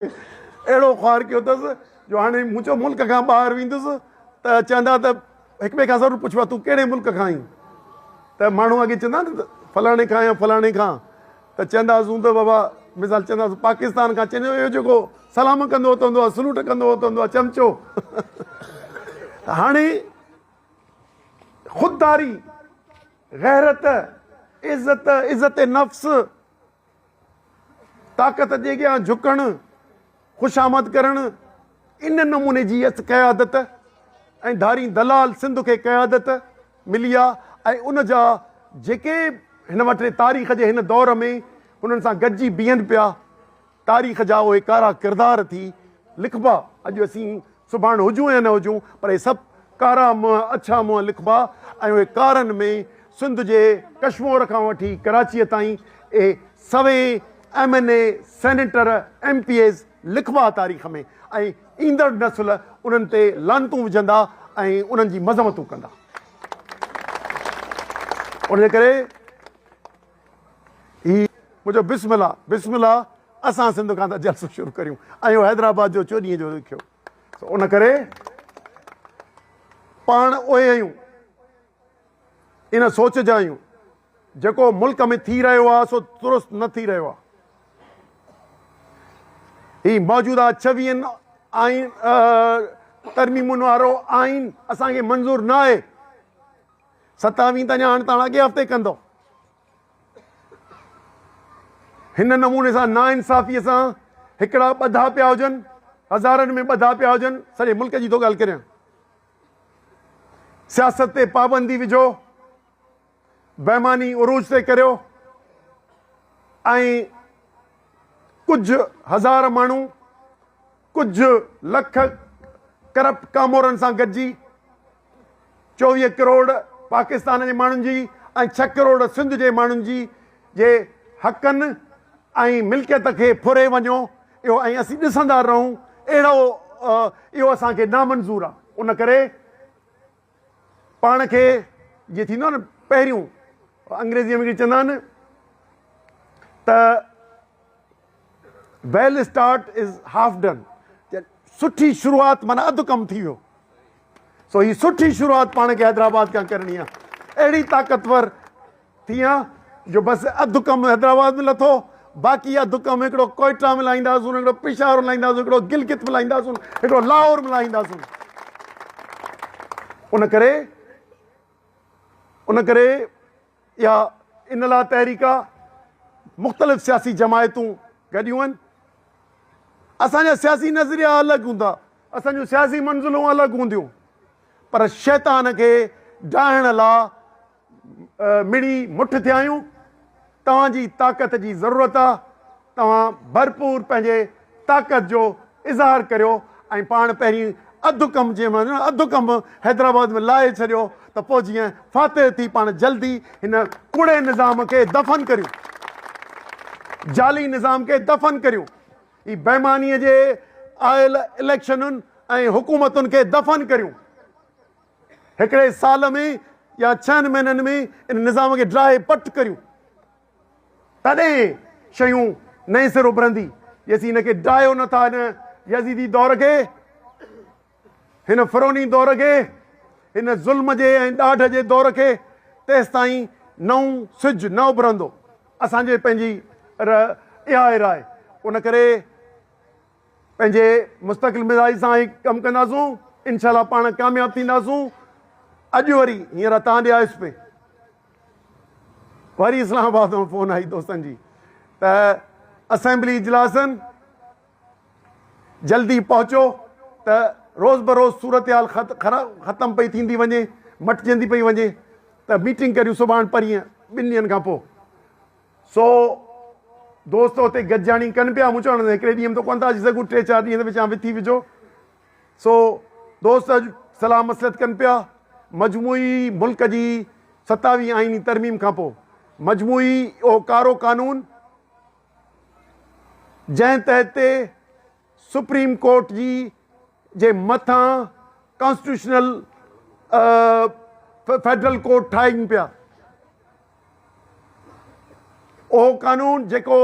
اهڙو خوار ڪيو اٿس جو هاڻي مون چيو ملڪ کان ٻاهر ويندس ته چوندا ته هڪ ٻئي کان ضرور پڇبو آهي تون ڪهڙي ملڪ کان آهين ته ماڻهو اڳي چوندا نه ته فلاڻي کان يا فلاڻي کان ته چونداسون ته بابا مثال چونداسون پاڪستان کان چوندو اهو جيڪو سلام ڪندو هوت هوندو آهي سلوٽ ڪندو هوت هوندو آهي چمچو ته هاڻي خودداري غيرت عزت عزت نفس طاقت جي اڳيان جهڪڻ، خوشامد ڪرڻ، ان نموني جي اس قيادت ۽ ڌارين دلال سنڌ کي قيادت ملي آ ۽ ان جا جيڪي هن وٽ تاريخ جي هن دور ۾ انهن سان گڏجي بيهن پيا تاريخ جا اهي ڪارا ڪردار ٿي لکبا اڄ اسين سڀاڻ هجون يا نه هجون پر اهي سڀ ڪارا منهن اڇا منهن لکبا ۽ اهي ڪارن ۾ سنڌ جي ڪشمور کان وٺي ڪراچيء تائين اهي سوين M N A senator M P As لکبا تاريخ ۾ ۽ ايندڙ نسل انهن تي لعنتون وجهندا ۽ انهن جي مذمتون ڪندا ان جي ڪري هي منهنجو بسم الله بسم الله اسان سنڌ کان ته جلسو شروع ڪريون ۽ اهو حيدرآباد جو چوڏهين جو لکيو ان ڪري پاڻ اهي آهيون ان سوچ جا آهيون جيڪو ملڪ ۾ ٿي رهيو آهي سو درست نه ٿي رهيو آهي هي موجوده ڇويهن آئين ترميمن وارو آئين اسان کي منظور نه آهي ستاوين ته اڃا هاڻ تاڻ اڳئين هفتي ڪندو. هن نموني سان ناانصافيء سان هڪڙا ٻڌا پيا هجن، هزارن ۾ ٻڌا پيا هجن، سڄي ملڪ جي ٿو ڳالهه ڪريان. سياست تي پابندي وجهو، بيماني عروج تي ڪريو ۽ ڪجهه هزار ماڻهو، ڪجهه لک ڪرپٽ ڪامورن سان گڏجي چوويهه ڪروڙ پاڪستان جي ماڻهن جي ۽ ڇهه ڪروڙ سنڌ جي ماڻهن جي جي حقن ۽ ملڪيت کي ڦري وڃو اهو ۽ اسين ڏسندا رهون اهڙو اهو اسان کي نامنظور آ ان ڪري پاڻ کي جيئن ٿيندو آهي نه پهريون انگريزيء ۾ چوندا آهن ته well start is half done سٺي شروعات مانا اڌ ڪم ٿي ويو سو هي سٺي شروعات پاڻ کي حيدرآباد کان ڪرڻي آهي اهڙي طاقتور ٿيان جو بس اڌ ڪم حيدرآباد ۾ لٿو باقي اڌ ڪم هڪڙو ڪوئيٽا ۾ لاهينداسون هڪڙو پشاور لاهينداسون هڪڙو گلگت ۾ لاهينداسون هڪڙو لاهور ۾ لاهينداسون ان ڪري ان ڪري يا ان لا تحريڪ مختلف سياسي جماعتون گڏيون آهن اسان جا سياسي نظريا الڳ هوندا اسان جون سياسي منزلون الڳ هونديون پر شيطان کي ڊاهڻ لا مڙئي مٺ ٿيا آهيون، توهان جي طاقت جي ضرورت آ، توهان ڀرپور پنهنجي طاقت جو اظهار ڪريو ۽ پاڻ پهرين اڌ ڪم جنهن مهل اڌ ڪم حيدرآباد ۾ لاهي ڇڏيو ته پوء جيئن فاتح ٿي پاڻ جلدي هن ڪوڙي نظام کي دفن ڪريون، جعلي نظام کي دفن ڪريون، هي بيمانيء جي آيل اليڪشنن ۽ حڪومتن کي دفن ڪريون، هڪڙي سال ۾ يا ڇهن مهينن ۾ ان نظام کي ڊاهي پٽ ڪريون تڏهن شيون نئين سر اڀرندي جيسين هن کي ڊاهيو نه ٿا هن يزيدي دور کي هن فروني دور کي هن ظلم جي ۽ ڏاڍ جي دور کي تيستائين نئون سج نه اڀرندو اسان جي پنهنجي اها راء ان ڪري پنهنجي مستقل مزاج سان هي ڪم ڪنداسون انشاء الله پاڻ ڪامياب ٿينداسون اڄ وري هينئر تان ڏي آيس پي وري اسلام آباد مان فون آئي دوستن جي ته اسيمبلي اجلاسن جلدي پهچو ته روز بروز صورتحال ختم پئي ٿيندي وڃي مٽجندي پئي وڃي ته ميٽنگ ڪريون سڀاڻ پرينء ٻن ڏينهن کان پوء سو دوست اتي گڏجاڻي ڪن پيا، مون چيو هڪڙي ڏينهن ۾ ته ڪونه ٿا اچي سگهون، ٽي چار ڏينهن ته وچان وٿي وجهو. سو دوست اڄ صلاح مصلحت ڪن پيا. مجموعي ملڪ جي ستاويهين آئيني ترميم کان پوء مجموعي اهو ڪارو قانون جنهن تحت سپريم ڪورٽ جي جي مٿان ڪانسٽيٽيوشنل فيڊرل ڪورٽ ٺاهين پيا، اهو قانون جيڪو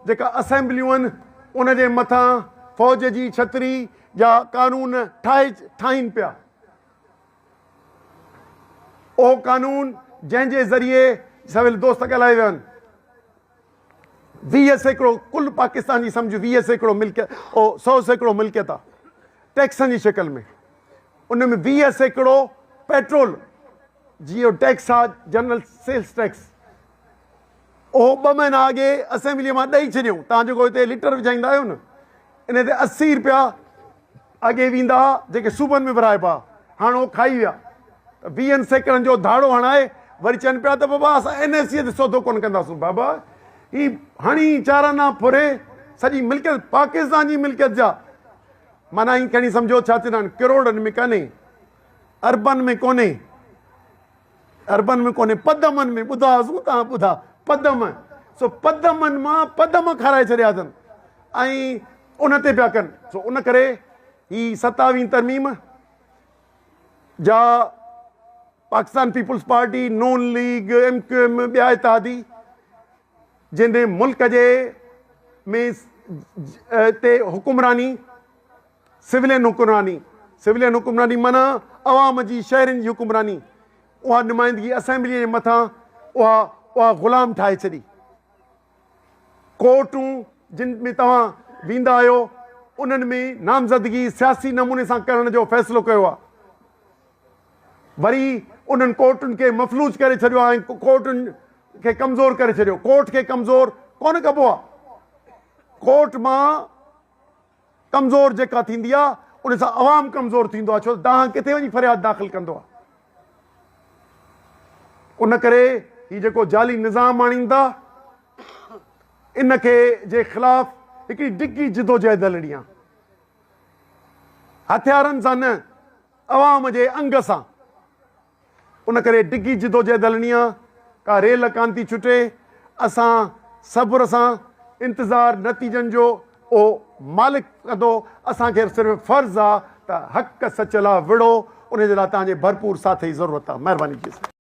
جيڪا اسيمبليون ان جي مٿان فوج جي ڇتري جا قانون ٺاهي ٺاهين پيا. اهو قانون جنهن جي ذريعي سويل دوست ڳالهائي ويا آهن. ويهه سيڪڙو ڪل پاڪستان جي سمجهه ويهه سيڪڙو ملڪيت او سؤ سيڪڙو ملڪيت آ ٽيڪسن جي شڪل ۾ ان ۾ ويهه سيڪڙو پيٽرول جي او ٽيڪس آ جنرل سيلس ٽيڪس اهو ٻه مهينا اڳي اسيمبليء مان ڏئي ڇڏيو تان جيڪو هتي ليٽر وجهائيندا آهيو نه ان تي اسي رپيا اڳي ويندا ها جيڪي صوبن ۾ ورهائبا هاڻ اهو کائي ويا ته ويهن سيڪڙن جو ڌاڙو هڻائي وري چون پيا ته بابا اسان اين اي سي تي سودو ڪونه ڪنداسون بابا هي هڻي چارانا ڦري سڄي ملڪيت پاڪستان جي ملڪيت جا معنيٰ هي کڻي سمجهو ڇا چوندا آهن ڪروڙن ۾ ڪانهي اربن ۾ ڪونهي عربن ۾ ڪونهي پدمن ۾ ٻڌا هئاسون تان ٻڌا پدم سو پدمن مان پدم کارائي ڇڏيا اٿن ۽ ان تي پيا ڪن سو ان ڪري هي ستاوين ترميم جا Pakistan People's party Noon league M Q M ٻيا اتحادي جنھن ملڪ جي ۾ تي حڪمراني سولين حڪمراني، Civilian حڪمراني معنيٰ عوام جي شهرين جي حڪمراني اها نمائندگي اسيمبليء جي مٿان اها اها غلام ٺاهي ڇڏي. ڪورٽون جن ۾ توهان ويندا آهيو انهن ۾ نامزدگي سياسي نموني سان ڪرڻ جو فيصلو ڪيو آهي. وري انهن ڪورٽن کي مفلوج ڪري ڇڏيو آهي ۽ ڪورٽن کي ڪمزور ڪري ڇڏيو ڪورٽ کي ڪمزور ڪونه ڪبو آهي ڪورٽ مان ڪمزور جيڪا ٿيندي آهي ان سان عوام ڪمزور ٿيندو آهي ڇو ته دانهن ڪٿي وڃي فرياد داخل ڪندو آهي ان ڪري هي جيڪو جعلي نظام آڻين ٿا ان کي جي خلاف هڪڙي ڊگهي جدوجهد هلڻي آهي هٿيارن سان نه عوام جي انگ سان ان ڪري ڊگهي جدوجهد هلڻي آ ڪا ريل ڪان ٿي ڇٽي اسان صبر سان انتظار نتيجن جو اهو مالڪ ڪندو اسان کي صرف فرض آ ته حق سچ لا وڙهو ان جي لا تهان جي ڀرپور ساٿ جي ضرورت آ مهرباني جي سائين.